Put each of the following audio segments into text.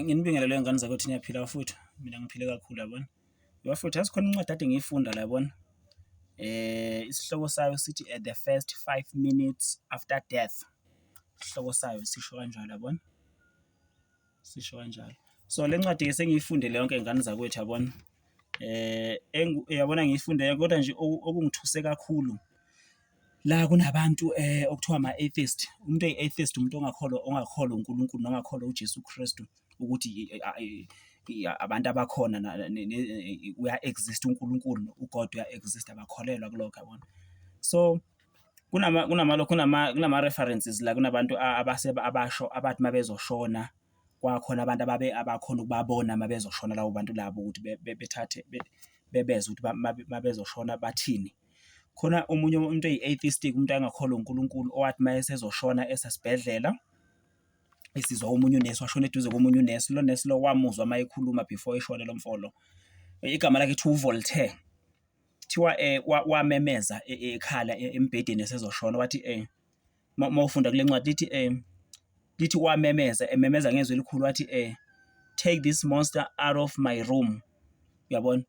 Nginibingelele ngane zakwethu niyaphila bafowethu, mina ngiphile kakhulu yabona. Bafowethu yazi khona incwadi kade ngiyifunda la yabona, isihloko sayo sithi at the first five minutes after death, isihloko sayo sisho kanjalo yabona, sisho kanjalo. So le ncwadi-ke sengiyifunde yonke ngane zakwethu yabona. Yabona ngiyifunde kodwa nje okungithuse kakhulu la kunabantu okuthiwa ama-atheist, umuntu oyi-atheist umuntu ongakholwa, ongakholwa uNkulunkulu nongakholwa uJesu Kristu ukuthi abantu abakhona uya-exist-a uNkulunkulu, uGod uya-exist-a abakholelwa kulokho yabona. So kunama-references la kunabantu abasho abathi uma bezoshona kwakhona abantu ababe abakhona ukubabona uma bezoshona labo bantu labo ukuthi bethathe bebezwe ukuthi uma bezoshona bathini. Khona omunye umuntu eyi-atheistic, umuntu angakholwa uNkulunkulu, owathi uma esezoshona esesibhedlela, esizwa omunye unesi, washona eduze komunye unesi, lo nesi lo wamuzwa uma ekhuluma before eshone lo mfo lo. Igama lakhe kuthiwa uVoltaire. Kuthiwa wamemeza ekhala embhedeni esezoshona, wathi . uma ufunda kule ncwadi lithi um lithi wamemeza ememeza ngezwi elikhulu wathi um take this monster out of my room uyabona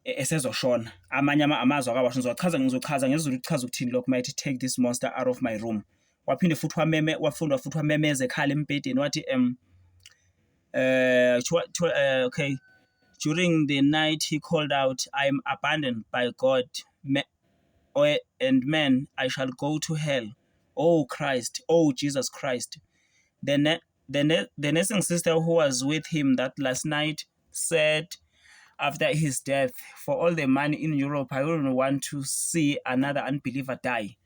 e, esezoshona amanye amazwi akawasho ngizochaza ngizochaza ngezulu kuchaza ukuthini lokho mayithi take this monster out of my room waphinde futhi wameme wafunda futhi wamemeza ekhala embhedeni wathi um uh, to, to, uh, okay during the night he called out i am abandoned by god oe and man I shall go to hell oh Christ oh Jesus Christ the ne the ne the nursing sister who was with him that last night said after his death for all the money in Europe I wouldn't want to see another unbeliever die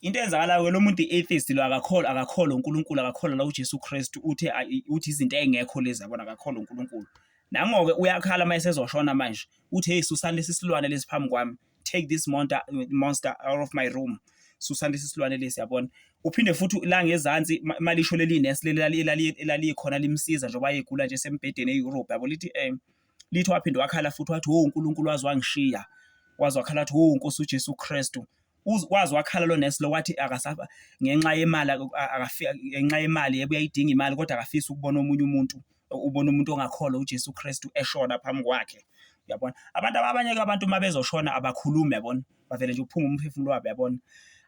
into eyenzakalayo ke lo muntu i-atheist lo akakholwa akakholwa uNkulunkulu akakholwa la uJesu Kristu uthe uthi izinto engekho lezi yabona akakholwa uNkulunkulu nangoke uyakhala uma esezoshona manje uthi hey susani lesi silwane lesi phambi kwami take this monster, monster out of my room susani lesi silwane lesi yabona uphinde futhi la ngezansi malisho leli nurse leli elalikhona limsiza njengoba egula nje sembhedeni e-Europe yabo lithi um lithi waphinde wakhala futhi wathi wo uNkulunkulu wazi wangishiya wazi wakhala wathi wo Nkosi uJesu Kristu wazi wakhala lo nurse lo wathi akasaba ngenxa yemali akafika ngenxa yemali yebo uyayidinga imali kodwa akafisi ukubona omunye umuntu ubona umuntu ongakholwa uJesu Kristu eshona phambi kwakhe uyabona abantu abanye ke abantu uma bezoshona abakhulumi yabona bavele nje uphuma umphefumulo wabo yabona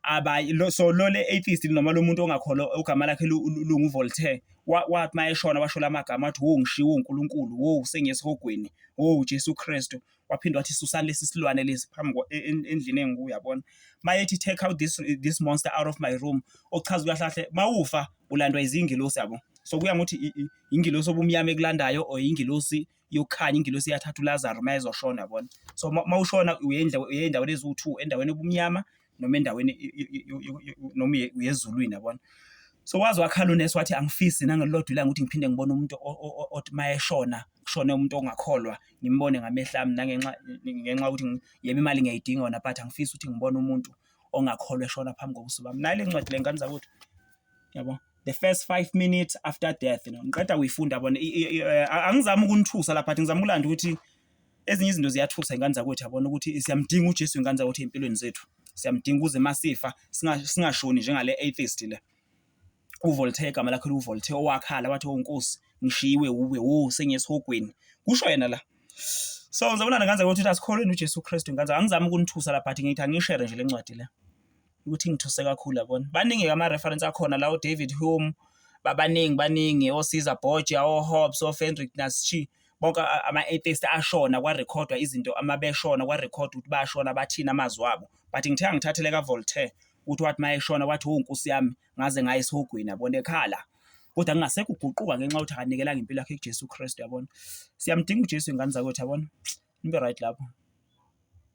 abayi lo so lo le atheist noma lo muntu ongakholo ogama lakhe lungu Voltaire wathi mayeshona washo lamagama wathi wo ngishiwo uNkulunkulu wo sengiyesihogweni wo Jesu Kristu waphinde wathi susani lesi silwane lesi phambi e, e, endlini engiku yabona mayethi take out this, this monster out of my room okuchaza ukuthi kahle mawufa ulandwa izingilosi yabo so kuya ngokuthi ingilosi obumnyama ekulandayo or ingilosi yokukhanya ingilosi yathatha uLazaro mayezoshona yabona so mawushona uye endaweni eziwu-2 endaweni obumnyama noma endaweni noma uyezulwini yabona so waze wakhala unesi wathi angifisi nangelilodwa ilanga ukuthi ngiphinde ngibone umuntu othi uma eshona kushone umuntu ongakholwa ngimbone ngamehla ami nangenxa ngenxa yokuthi yebo imali ngiyayidinga wona but angifisi ukuthi ngibone umuntu ongakholwa eshona phambi kobuso bami nayo le ncwadi le ngane zakwethu yabo the first five minutes after death you know ngiqeda kuyifunda yabona angizami ukunithusa lapha but ngizama ukulanda ukuthi Ezinye izinto ziyathusa ingane zakwethu yabona ukuthi siyamdinga uJesu ingane zakwethu ey'mpilweni zethu. Siyamdinga ukuze masifa singashoni njengale atheist le. UVoltaire igama lakhe liwuVoltaire owakhala wathi oNkosi oh, ngishiyiwe wuwe wo oh, sengisihogweni. Kusho yena la. So ngizobona ngane zakwethu ukuthi asikholweni uJesu Kristu ingane zakwethu. Angizami ukunithusa la but ngithi angishere nje le ncwadi le. ukuthi ngithuse kakhulu yabona baningi ke ama-reference akhona lawo david hume babaningi baningi osiza borgia ohobbs ofendrick naschi bonke ama-atheist ashona kwarekhodwa izinto ama beshona kwarekhodwa ukuthi bashona bathini amazwi abo but ngithe angithathele kavoltaire ukuthi wathi uma eshona wathi wo nkosi yami ngaze ngaye esihogweni yabona ekhala kodwa kungasekho uguquka ngenxa yokuthi akanikelanga impilo yakhe kuJesu Kristu yabona siyamdinga uJesu ingane zakwethu yabona nibe right lapho